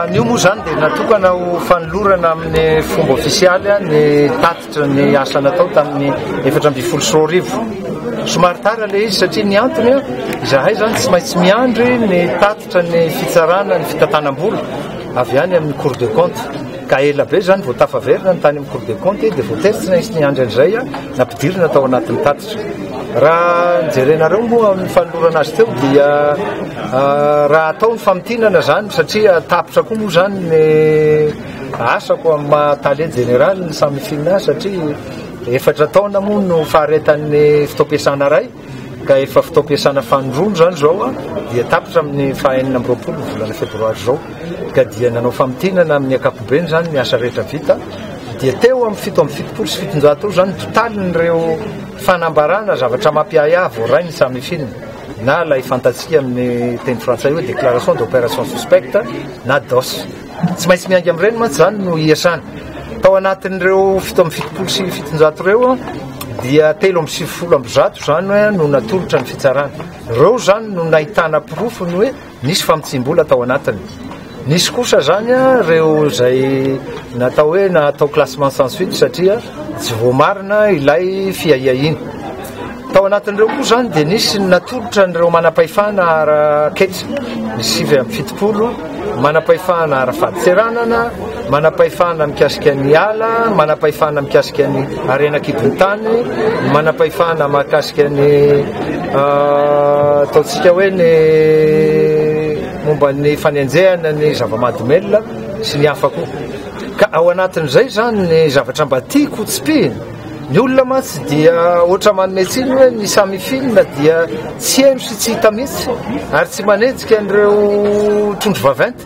Ny io moa izany dia natokana ho fanolorana amin'ny fomba ofisialy ny tatitra ny asa natao tamin'ny efatra ambin'ny folo sy roa arivo. Somary tara ilay izy satria ny antony izahay izany tsy maintsy miandry ny tatitra ny fitsarana ny fitantanam-bola avy any amin'ny Cour de compte ka ela be izany vao tafaverina ny tany amin'ny Cour de compte dia voatery tsy maintsy niandry an'izay aho Nampidirina tao anatin'ny tatitra. Raha jerenareo moa amin'ny fanolorana azy teo dia raha atao ny famintinana izany satria tapitra koa moa izany ny asako amin'ny maha tale jeneralin'ny Samifinina ahy satria efatra taona moa no faharetan'ny fotoam-piasana iray. ka efa fotoam-piasana fanindroany izany izao an, dia tapitra amin'ny faha enina amby roapolo ny volana febroary izao, ka dia nanao famintinana amin'ny ankapobeny izany ny asa rehetra vita, dia teo amin'ny fito amby fitopolo sy fitonjato eo izany ny totalin'ireo fanambarana, zavatra mampiahiahy, voaray ny samifin, na ilay fantatsika amin'ny teny frantsay hoe déclaration d'opération suspecte na DOS. Tsy maintsy miainga amin'ireny mantsy izany no iasany. Tao anatin'ireo fito amby fitopolo sy fitonjato ireo dia telo amby sivifolo amby zato izany hoe no natolotra ny fitsarana. Ireo izany no nahitana porofo ny hoe nisy famotsiam-bola tao anatiny. Nisy kosa izany ireo izay natao hoe natao classement sans suite satria tsy voamarina ilay fiahiahiana. Tao anatin'ireo koa izany dia nisy ny natolotra an'ireo manam-pahefana ara-ketsa, ny sivy amby fitopolo, manam-pahefana ara-fadintseranana, manam-pahefana mikasika ny ala, manam-pahefana mikasika ny harena an-kibon'ny tany, ny manam-pahefana mahakasika ny ataontsika hoe ny momba ny fanenjehana ny zava-mahadomelina sy ny hafa koa. Ka ao anatin'izay izany ny zavatra mba tiako ho tsipihina. Ny olona mantsy dia ohatra manome tsiny hoe ny samy filina dia tsy heno sy tsy hita mihitsy ary tsy manenjika an'ireo trondro vaventy.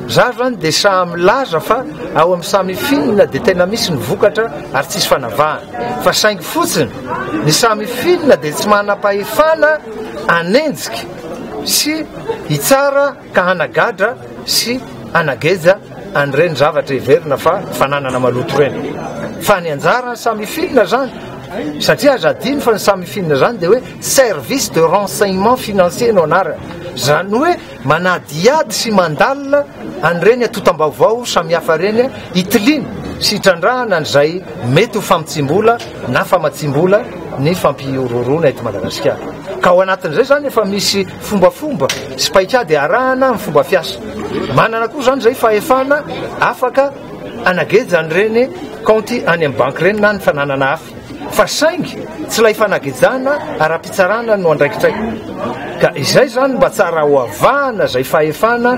Za zany dia saha milaza fa ao amin'ny samy filina dia tena misy ny vokatra ary tsisy fanavahana. Fa saingy fotsiny ny samy filina dia tsy manam-pahefana hanenjika sy hitsara ka hanagadra sy hanageja an'ireny zavatra heverina fa fananana maloto ireny. Fa ny anjaran'ny samy filina izany, satria aza adino fa ny samy filina izany dia hoe service de renseignement financier no anarany. Izany hoe manadihady sy mandalina an'ireny atotam-baovao samihafa ireny hitiliana sy hitrandrahana an'izay mety ho famitsim-bola na famatsiam-bola ny fampihorohoroana eto Madagasikara. Ka ao anatin'izay izany efa misy Fombafomba sy paikady arahana ny fomba fiasa. Manana koa izany izay fahefana afaka anageja an'ireny kaonty any amin'ny banky ireny na ny fananana hafa. Fa saingy tsy ilay fanagejana ara-pitsarana no andraikitray. Ka izay izany mba tsara hoavahana izay fahefana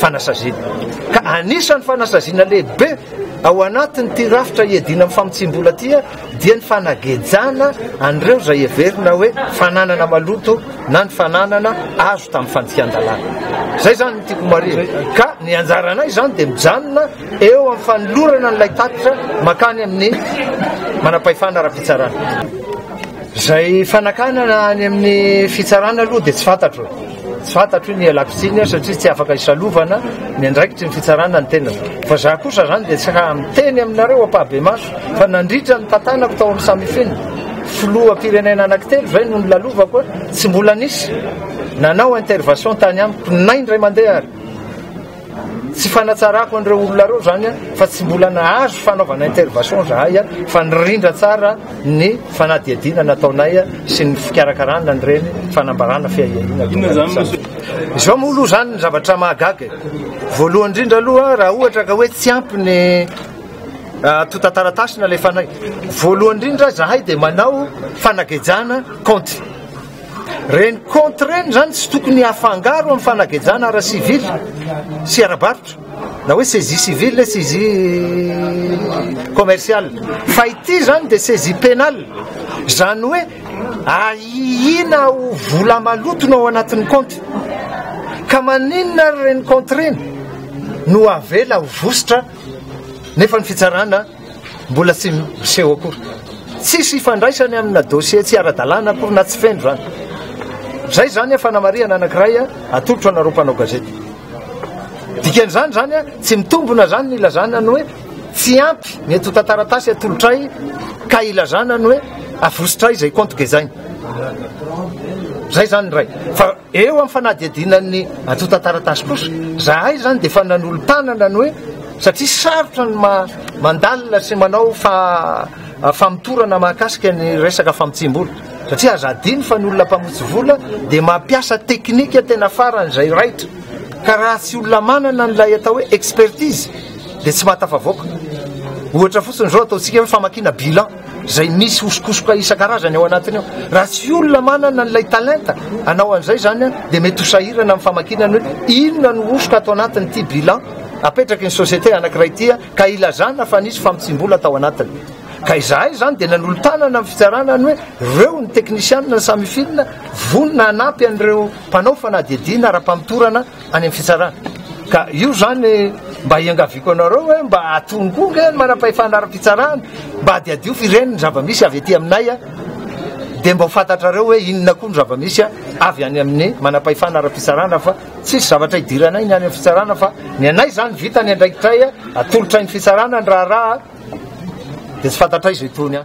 fanasaziana. Ka anisan'ny fanasaziana lehibe ao anatin'ity rafitra iadiana amin'ny famotsiam-bola ity dia ny fanagejana an'ireo izay heverina hoe fananana maloto na ny fananana azo tamin'ny fandikan-dalàna. Izay izany ny tiako marina. Ka ny anjaranay izany dia mijanona eo amin'ny fanolorana an'ilay tatitra makany amin'ny manam-pahefana ara-pitsarana. Izay fanakanana any amin'ny fitsarana aloha dia tsy fantatro. Tsy fantatro io ny ialako tsiny satria tsy afaka isalovana ny andraikitry ny fitsarana ny tenako. Fa za kosa zany dia tsy ha miteny aminareo ampahabemaso fa nandritra ny tantanako tao amin'ny samifin filoha mpirenena anakitelo zay no nilalovako tsy mbola nisy nanao intervation tany amiko na indray mandeha ary. Tsy fanatsarako an'ireo olona ireo izany an, fa tsy mbola nahazo fanaovana intervention izahay an, fa nirindra tsara ny fanadihadiana nataonay sy ny fikarakarana an'ireny fanambarana fiahiahiana ireny. Izao moa aloha izany ny zavatra mahagaga e! Voalohany indrindra aloha raha ohatra ka hoe tsy ampy ny Ah, tontan-taratasy nalefanay voalohany indrindra zahay dia manao fanagejana kaonty Reny compte reny izany tsy tokony hafangaro amin'ny fanagejana ara-civil sy ara-barotra na hoe saisie civile na saisie commerciale. Fa ity izany dia saisie pénale. Izany hoe ahiana ho vola maloto no ao anatin'ny compte. Ka maninona ary reny compte reny no avela ho vositra nefa ny fitsarana Mbola tsy miseho akory. Tsisy ifandraisany amina dossier tsy ara-dalàna akory na tsy feno zany. Zay zany fanamarihana anakiray atolotro anareo mpanao gazety. Dikan'izany zany tsy mitombona zany ny ilazana ny hoe tsy ampy ny eto tantaratasy atolotray ka ilazana ny hoe avosotray zay compte gezaina. Zay zany ray. Eo amin'ny fanadihadiana ny antontan-taratasy kosa, zahay izany dia efa nanolo-tanana ny hoe satria sarotra ny mandalina sy manao famotorana mahakasika ny resaka famotsiam-bola, satria aza adino fa ny olona mpamotsy vola dia mampiasa teknika tena farany izay raitra, ka raha tsy olona manana an'ilay atao hoe expertise dia tsy mahatafavoaka. Ohatra fotsiny izao ataontsika hoe famakiana bilan. izay misy hosokosoka isan-karazany ao anatiny ao. Raha tsy olona manana an'ilay talenta anao an'izay izany an, dia mety ho sahirana amin'ny famakiana ny hoe inona no hosoka ato anatin'ity bilan apetraky ny société anankiray ity an, ka ilazana fa nisy famotsiam-bola tao anatiny. Ka izahay izany dia nanolo-tanana amin'ny fitsarana ny hoe ireo ny teknisianina ny Samifin vonona hanampy an'ireo mpanao fanadihadiana ara-pamotorana any amin'ny fitsarana. Ka io zany mba hiangaviako anareo hoe mba atony koa nge ny manam-pahefana ara-pitsarana mba adiadio fireniny zava-misy avy aty aminay a dia mba ho fantatrareo hoe inona koa ny zava-misy a avy any amin'ny manam-pahefana ara-pitsarana fa tsisy zavatra hidiranay ny any amin'ny fitsarana fa ny anay zany vita ny andraikitray a atolotray ny fitsarana ny raharaha dia tsy fantatray izay tony a